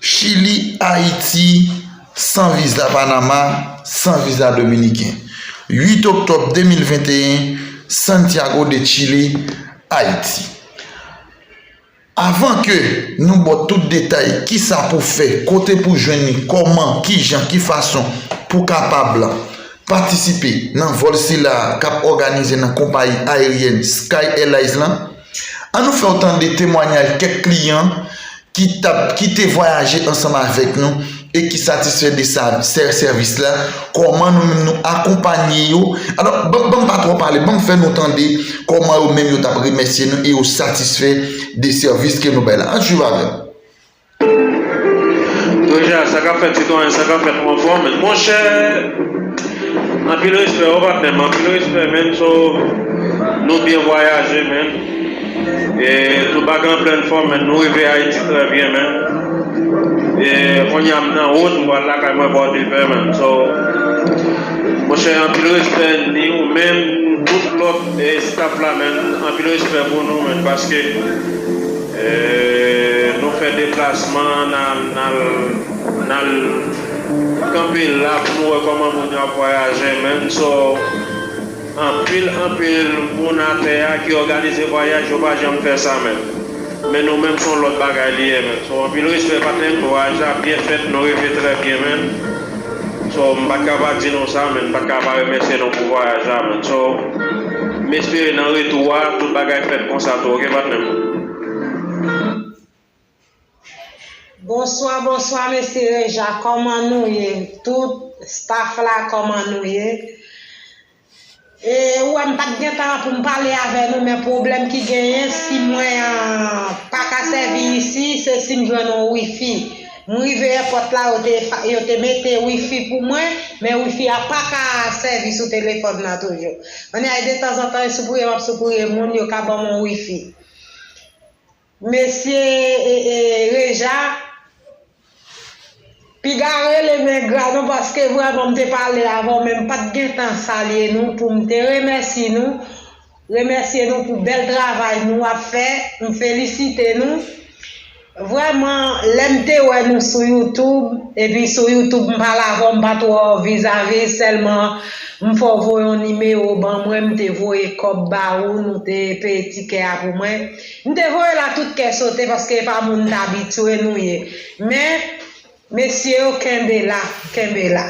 Chili, Ayiti, San viza Panama, San viza Dominiken 8 oktòb 2021 Santiago de Chile, Ayiti Avan ke nou ba w tout detay kisa pou fè, kote pou jwenn li, kòman, kijan, ki fason pou kapab patisipe nan vòl sila a kap òganize nan konpayi ayeryèn Sky Airlines lan. An nou fè w tande temwanyaj kèk kliyan ki t ap ki te vwayaje ansanm avèk nou e ki satisfè de sa sè sèvis la, kòman nou menm nou akonpanye yo, alò ban ban m pa twò pale ban m fè nou tande kòman yo menm yo t ap remèsye nou e yo satisfè de sèvis ke nou bay la, an swiv avè m. Doja sa kap fèt sitwayen sa kap fèt manfò men monchè anpil respè wi patnèm anpil respè menn so nou byen vwayaje menn e nou pa gen anplèn fòm menn nou rive ayiti trè byen menn e konnya m nan wout m pral lakay mwen pòdepè menn so monchè anpil respè ni ou menm tout lòt staf la menn anpil respè pou nou menn paske. Nou fè deplasman nan al kanpe la pou nou wè kòman moun yo ap vwayaje menm so anpil anpil moun atè a ki òganize vwayaj yo pa janm fè sa menm men nou menm son lòt bagay li ye menm so anpil respè patnèm vwayaj la ap byen fèt nou rive trè byen menm. So m pat ka pa di nou sa men m pat ka pa remèsye nou pou vwayaj la menn so m espere nan retou a tout bagay fèt konsa tou ok patnè m. Bonswa bonswa mesye reja kòman nou ye tout staff la kòman nou ye. Ou wè m pat gen tan pou m pale avè nou men pwoblèm ki genyen si mwen pa ka sèvi isi se si m jwenn yon wifi. M rive èpòt la yo te mete wifi pou mwen men wifi a pa ka sèvi sou telefòn nan toujou. Anyay detanzantan e soupouye m ap soupouye moun yo ka ban m yon wifi. Mesye Reja piga rele men gra nou paske vrèman m te pale avè w men m pat gen tan salye nou pou m te remèsi nou remèsye nou pou bèl travay nou ap fè m felisite nou vrèman lè m te wè nou sou youtube epi sou youtube m pale avè w m pa twò vizavi sèlman m fè w voye yon nimewo ban mwen m te voye kòb ba ou nou te peye tikè a pou mwen. M te voye la tout kè sote paske e pa moun dabitue nou ye men mesye yo kenbe la kenbe la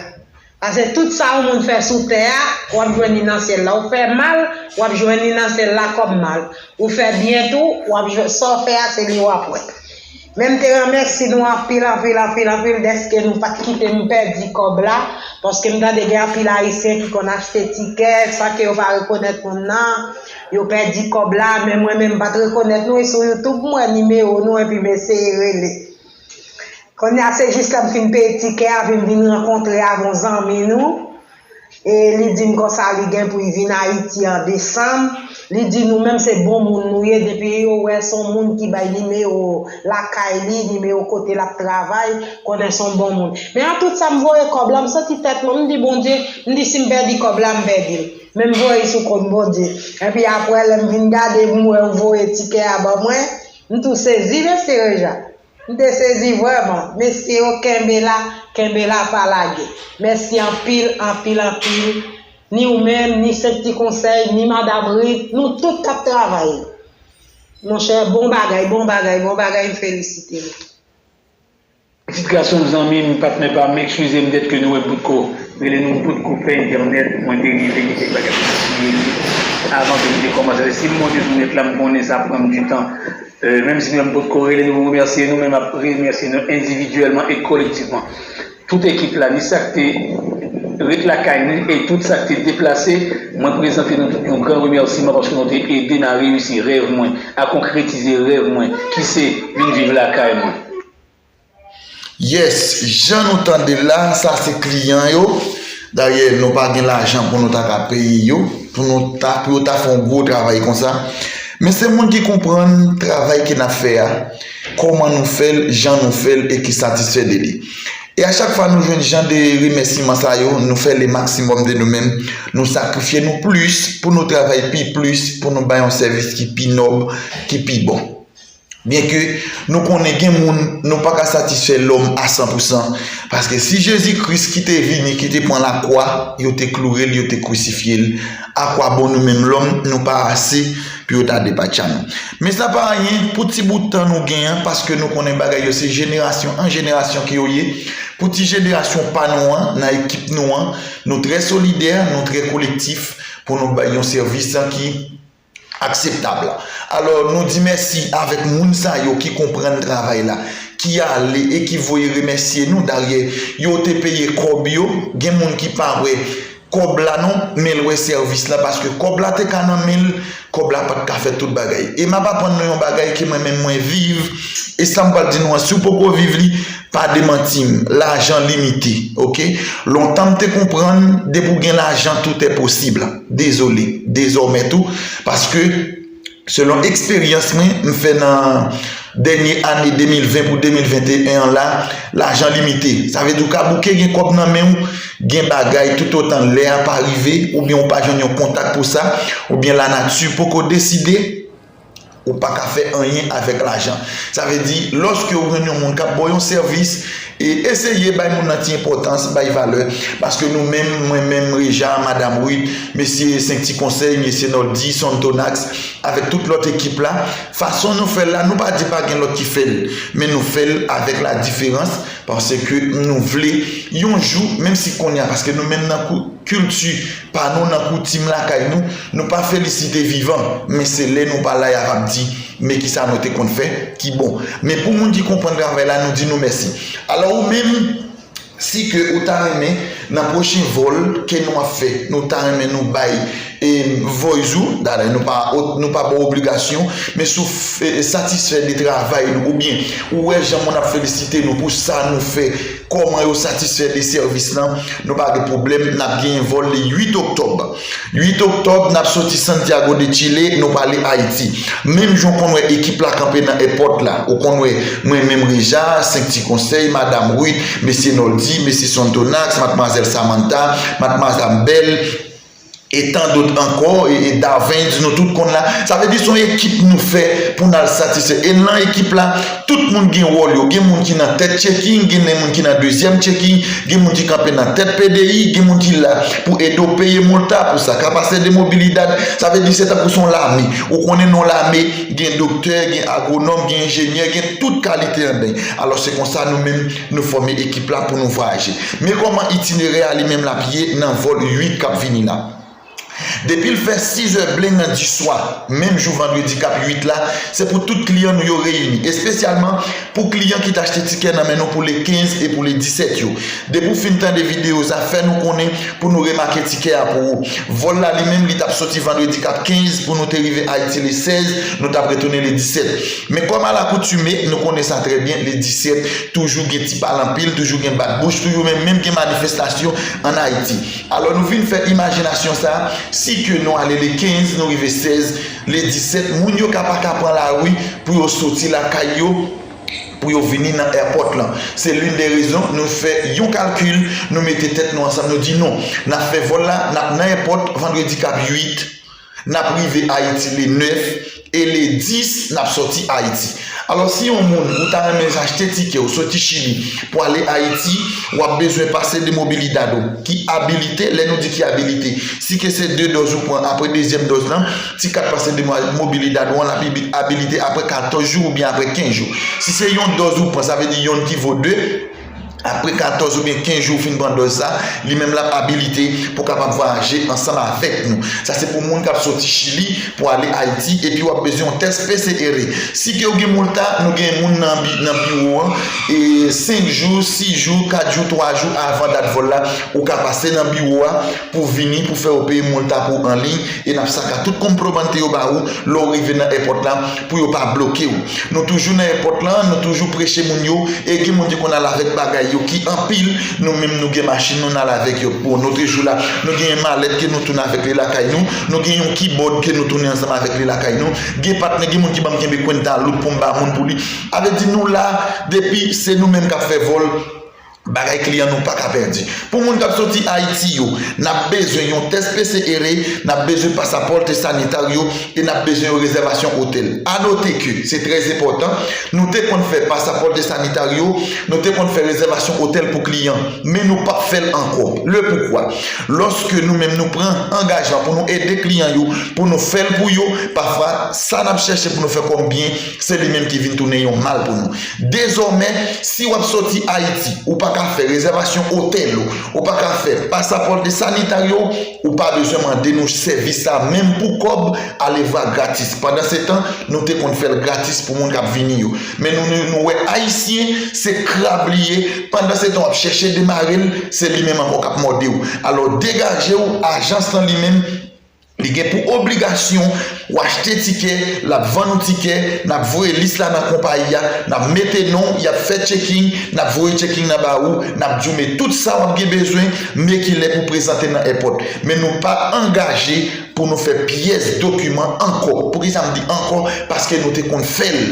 pase tout sa yon moun fè sou tè a wap jwenn li nan syèl la ou fè mal wap jwenn li nan syèl la kòm mal ou fè byen tou wap jwenn sa w fè a se li wap wè. Men m te remèsi nou anpil anpil anpil anpil dèske nou pat kite m pèdi kòb la, paske m tande gen anpil ayisyen ki konn achte tikè san ke yo pa rekonèt moun nan, yo pèdi kòb la, men mwen menm m pat rekonèt nou e sou youtube m wè nimewo nou epi m eseye rele. Konnya se jis lè m fin peye tikè a epi m vin rankontre avon zanmi nou, e li di m konsa li gen pou y vin Ayiti an desanm, li di nou menm se bon moun nou ye depi yo wè son moun ki bay nimewo lakay li, nimewo kote lap travay, konnen son bon moun. Men an tout sa m voye kòb la, m santi tèt mwen, m di Bondye, m di si m pèdi kòb la m pèdi l, men m voye l sou kont Bondye. Epi aprè lè m vin gade m wè yo voye tikè a ban mwen, m tou sezi mesye Reja. M te sezi vreman. Mesye yo kenbe la, kenbe la pa lage. Mèsi anpil, anpil, anpil. Ni ou menm, ni 5 ti konsèy, ni madam Ruth, nou tout kap travay yo. Monchè bon bagay, bon bagay, bon bagay m felisite nou. Pitit gason m zanmi m patnè pa m ekskize m dètke nou wè m potko rele nou m potko fè entènèt mwen te rive gen kèk bagay m te siye yo avan ke m te kòmanse fè si m monte sou nèt la m konnen sa pran m du tan Menm si nou pot ko rele nou remèsye nou men map remèsye nou endividyèlman e kolektivman. Tout ekip la ni sak te ret lakay nou e tout sak te deplase mwen prezante nou tout yon gran remèsiman paske nou te ede nan reyisi rèv mwen, a konkretize rèv mwen ki se vin viv lakay mwen. Yes jan nou tande la sa se kliyan yo dayè nou pa gen lajan pou nou ta ka peye yo pou nou ta pou yo ta fè yon gwo travay konsa men se moun ki konprann travay ke nap fè a kòman nou fèl jan nou fèl e ki satisfè de li e a chak fwa nou jwenn jan de remèsiman sa yo nou fè le maksimòm de nou menm nou sakrifye nou plis pou nou travay pi plis pou nou bay yon sèvis ki pi nòb ki pi bon. Byenke nou konnen gen moun nou pa ka satisfè lòm a san pou san, paske si Jezi Kris ki te vini ki te pran lakwa, yo te kloure l, yo te krisifye l, akwabon nou menm lòm nou pa ase pou yo ta depatcha nou. Men sa pa anyen pou ti bout tan nou gen an paske nou konnen bagay yo se jenerasyon an jenerasyon ke yo ye. Pou ti jenerasyon pa nou an nan ekip nou an, nou trè solidè, nou trè kolektif pou nou bay yon sèvis ki. akseptab la. Alò nou di mèsi avèk moun sa yo ki konprann travay la, ki ale e ki voye remèsye nou, daryè yo te peye kòb yo, gen moun ki pa wè kòb la non, men l wè sèvis la paske kòb la te ka nan men l, kòb la pat ka fè tout bagay. E m ap aprann nou yon bagay ke mwen menm mwen viv, e sa m pral di nou an si w poko viv li, Pa demantim, lajan limite ok. Lontan m te konprann depi w gen lajan tout est possible. Dezole, dezòmè tou paske selon eksperyans mwen m fè nan dènye ane 2020 pou 2021 an la, lajan limite. Sa vle di w ka bouke gen kòb nan men w, gen bagay toutotan lè a pa rive oubyen w pa jwenn yon kontak pou sa, oubyen lanati poko deside. Ou pa ka fè anyen avèk lajan. Sa vle di, lòske ou jwenn yon moun k ap ba w yon sèvis, eseye bay moun nan ti enpòtans, bay valè. Paske nou menm, mwen menm, Reja, Madam Ruth, Mesye 5 Ti Konsèy, Mesye Noldy, Son Tonax, avèk tout lòt ekip la, fason nou fè l la, nou pa di pa gen lòt ki fè l, men nou fè l avèk ladiferans, paske nou vle yon jou, menm si kounye a, paske nou menm nan kilti. Pa nou nan koutim lakay nou, nou pa felisite vivan, men se lè nou pa la y ap ap di, Men ki sa nou te konn fè ki bon. Men pou moun ki konprann travay la, nou di nou mèsi. Alò ou menm, si ke ou ta renmen, nan pwochen vòl ke nou ap fè, nou ta renmen nou bay voice ou, dayè nou pa nou pa ba w obligasyon, men si w satisfè de travay nou oubyen ou wè jan moun ap felisite nou pou sa nou fè, Kòman yo satisfè de sèvis lan, nou pa gen pwoblèm, n ap genyen vòl le 8 oktòb. 8 oktòb, n ap soti Santiago de Chile, nou prale Ayiti. Menm jan w konn wè ekip la kanpe nan èpòt la, ou konn wè mwen menm Reja, 5 ti konsèy, Madam Ruth, Mesye Noldy, Mesye Sonthonax, Matmwazèl Samantha, Matmwazam Belle, e tan dot ankò e Davens nou tout konn la, sa vle di son ekip nou fè pou nal satisfè e lan ekip la tout moun gen wòl yo gen moun ki nan tèt checking gen moun ki nan dezyèm checking gen moun ki kanpe nan tèt pdi gen moun ki la pou ede w peye molta pou sa ka pase de mobilidad sa vle di se tankou son lame ou konnen non lame gen doktè gen agwonòm gen enjenyè gen tout kalite andeyn alò se konsa nou menm Nou fòme ekip la pou nou vwayaje. Men kòman itinerè a li menm l ap ye nan vòl 8 k ap vini la. Depi l fè sizè blen nan diswa menm jou vandredi k ap 8 la, se pou tout kliyan nou yo reyini. Espesyalman pou kliyan ki t achte tikè nan men nou pou le 15 e pou le 17 yo. Depi w fin tande videyo sa, fè nou konnen pou nou remake tikè a pou ou. Vòl la li menm li t ap soti vandredi k ap 15 pou nou te rive Ayiti le 16, nou t ap retounen le 17. Men kòm alakoutime, nou konnen sa trè byen, le 17, toujou gen ti pale anpil, toujou gen bat bouch, toujou men menm gen manifestasyon an Ayiti. Alò nou vin fè imajinasyon sa, si ke nou ale le 15, nou rive 16, le 17, moun yo ka pa ka pran lari pou yo soti lakay yo, pou yo vini nan èpòt lan. Se lin de rezon nou fè yon kalkil, nou mete tèt nou ansanm, nou di non, n ap fè vòl la, n ap nan èpòt vandredi k ap 8, N ap rive Ayiti le 9 e le 10 n ap sòti Ayiti. Alò si yon moun ou ta renmen achte tikè ou soti Chili pou ale Ayiti, w ap bezwen pase de mobilidad ou ki abilite, lè nou di ki abilite, si ke se 2 dòz ou pran apre dezyèm dòz lan, ti kat pase de mobilidad ou an l ap abilite apre 14 jou oubyen apre 15 jou. Si se yon dòz ou pran sa vle di yon ki vo 2. Apre 14 oubyen 15 jou ou fin pran dòz la, li menm l ap abilite pou kapab vwayaje ansanm avèk nou. Sa se pou moun k ap soti Chili pou ale Ayiti epi w ap bezwen yon tès PCR. Si ke ou gen Molta, nou gen moun nan biwo an, 5 jou, 6 jou, 4 jou, 3 jou avan dat vòl la, ou ka pase nan biwo a, pou vini pou fè ou peye mol tap ou anliy e nap saka tout kompromante yo ba ou lè ou rive nan èpòt la pou yo pa bloke ou. Nou toujou nan èpòt la nou toujou preche moun yo e gen moun ki konn al avèk bagay yo ki anpil nou menm nou gen machin nou nal avèk yo bon notre jou la nou gen yon malèt ke nou tounen avèk li lakay nou nou gen yon kibòd ke nou tounen ansanm avèk li lakay nou gen patnè gen moun ki banm kenbe kwenta louk poum ba moun pou li avè di nou la depi se nou menm kap fè vòl Bagay kliyan nou paka pèdi. Pou moun kap soti Ayiti yo, nap bezwen yon tès PCR, nap bezwen pasaporte sanitario e nap bezwen yon rezèvasyon otèl. A note ke, se trè enpòtan, nou te konn fè pasaporte sanitario, nou te konn fè rezèvasyon otèl pou kliyan, men nou pap fèl ankò. Le poukwa? Lòske nou menm nou pran angajman pou nou ede kliyan yo, pou nou fèl pou yo, pafwa sa nap chèche pou nou fè kòm byen Se li menm ki vin tounen yon mal pou nou. Dezòmè, si w ap soti Ayiti, ou pa ka fè rezèvasyon otèl ou, ou pa ka fè pasaporte sanitario w, ou pa bezwen mande nou sèvis sa menm pou kòb alevwa gratis. Pandansetan, nou te konn fè l gratis pou moun k ap vini yo. Men nou nou wè Ayisyen, se krab li ye, pandansetan w ap chèche demare l, se li menm ankò k ap mòde w. Alò degaje w, ajans lan li menm. Li gen pou obligasyon, w achte tikè, l ap vann ou tikè, n ap voye lis la nan konpayi a, n ap mete non w, y ap fè checking, n ap voye checking nan ba ou, n ap di w met tout sa w ap gen bezwen, men ki lè pou w prezante nan èpòt. Men nou pa angaje pou nou fè pyès dokiman ankò. Poukisa m di ankò? Paske nou te konn fè l.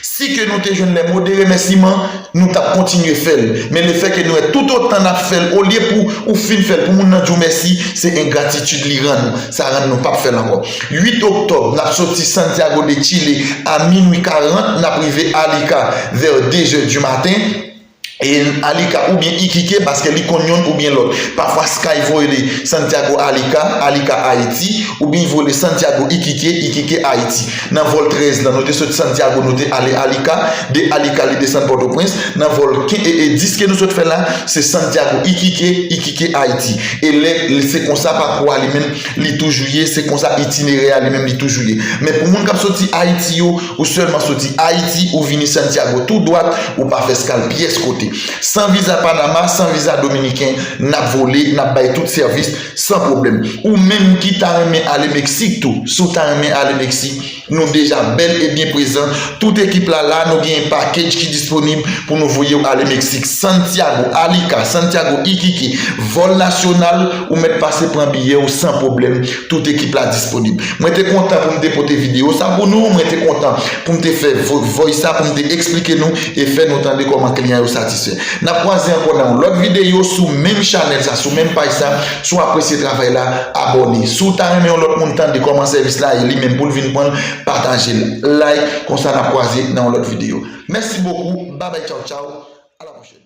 Si ke nou te jwenn lè mo de remèsiman, nou tap kontinye fèl. Men le fè ke nou wè tout otan nap fèl olye pou ou fin fèl pou moun nan di w mèsi, se engratitid li rann ou. Sa rann nou pap fèl ankò. 8 oktòb, nap soti Santiago de Chile a minwi 40, nap rive Arica vè 2 zè du maten. e Alika oubyen Iquique paske li konn yonn oubyen lòt. Pafwa Sky voye li Santiago Alika, Alika Ayiti, oubyen li voye li Santiago Iquique, Iquique Ayiti. Nan vòl 13 lan nou te sot Santiago nou te ale Alika, de Alika li desann Pòtoprens, nan vòl 10 ke nou sot fè la se Santiago Iquique, Iquique Ayiti. E lè se konsa pakou a li menm li toujou ye, se konsa itinerè a li menm li toujou ye. Men pou moun k ap soti Ayiti yo, Ou sèlman soti Ayiti, ou vini Santiago tou dwat, ou pa fè skal pyès kote. San viza Panama, san viza Dominiken, n ap vole, n ap bay tout sèvis, san pwoblèm. Ou menm ki ta renmen ale Meksik tou, si w ta renmen ale Meksik, nou deja bèl e byen prezan, tout ekip la la, nou genyen pakedj ki disponib pou nou voye w ale Meksik. Santiago, Alica, Santiago, Iquique, vòl nasyonal, ou mèt pase pran biyè w san pwoblèm, Tout ekip la disponib. Mwen te kontan pou m te pote videyo sa pou nou, mwen te kontan pou m te fè voice sa pou m te eksplike nou e fè nou tande kòman kliyan yo satisfè. N ap kwaze ankò nan yon lòt videyo sou menm chanèl sa, sou menm paj sa. Si w apresye travay la, abòne. Si w ta renmen yon lòt moun tande kòman sèvis la e li menm pou l vin pran l, pataje l, like, konsa n ap kwaze nan yon lòt videyo. Mèsi bokou, babay tchawtchaw, a la pwochèn.